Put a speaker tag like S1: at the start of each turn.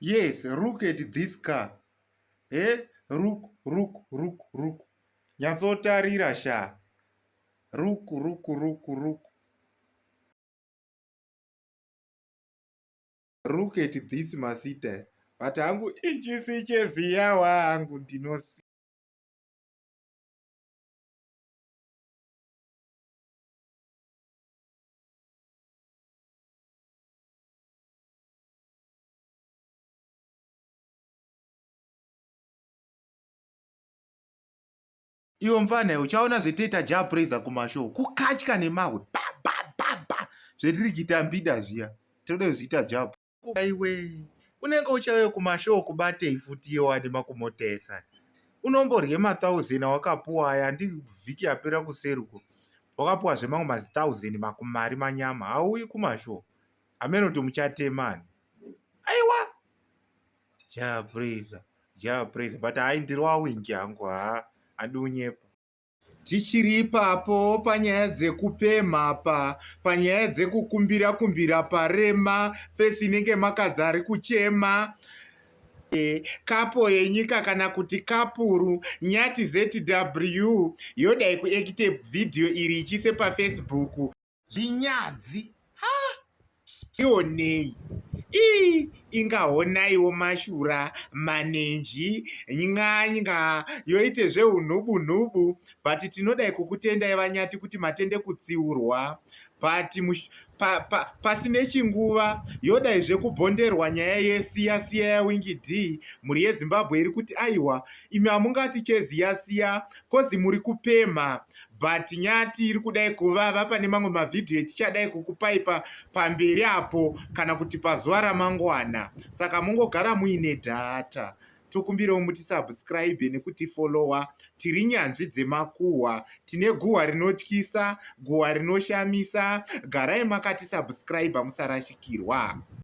S1: yes look at this car he eh? look look look look nyatsotarira sha look look look look look at this masita but hangu ichisi cheziya wangu ndinosi
S2: iwo mfanhe uchaona zvetiita ja praiser kumashow kukatya nemahwe babababa zvetiri kuita mbida zviya tinoda kuzviita ja aiwe unenge uchauya kumashow kubatei futi iye wani makumotesa unomborye mathousand wakapuwa aya andivhiki yapera kuseruko wakapuwa zvemamwe mazitauzendi makumari manyama hauyi kumashow hameno kuti muchatemani aiwa japraiser japraiser but hai ndiri wawingi hangu haa handi unyepa tichiri ipapo panyaya dzekupemha pa panyaya dzekukumbira kumbira parema fesi inenge makadzi ari kuchema Eh, kapo yenyika kana kuti kapuru nyati zw yodai kuekite vhidhiyo iri ichiise pafacebook zvinyadzi ha tionei ii ingahonaiwo mashura manenji ny'anya yoite zveunhubunhubu but tinodai kukutendai vanyati kuti matende kutsiurwa but pa, pa, pasine chinguva yodai zvekubhonderwa nyaya yesiya siya yawingi d mhuri yezimbabwe iri kuti aiwa imi hamungati cheziya siya kozi muri kupemha but nyati iri kudai kuvava pane mamwe mavhidhiyo etichadai kukupai pa, pamberi apo kana kuti pazuva ramangwana saka mungogara muine dhata tokumbirawo muti subscribe nekuti followa tiri nyanzvi dzemakuhwa tine guhwa rinotyisa guhwa rinoshamisa garai makati subscribe musarashikirwa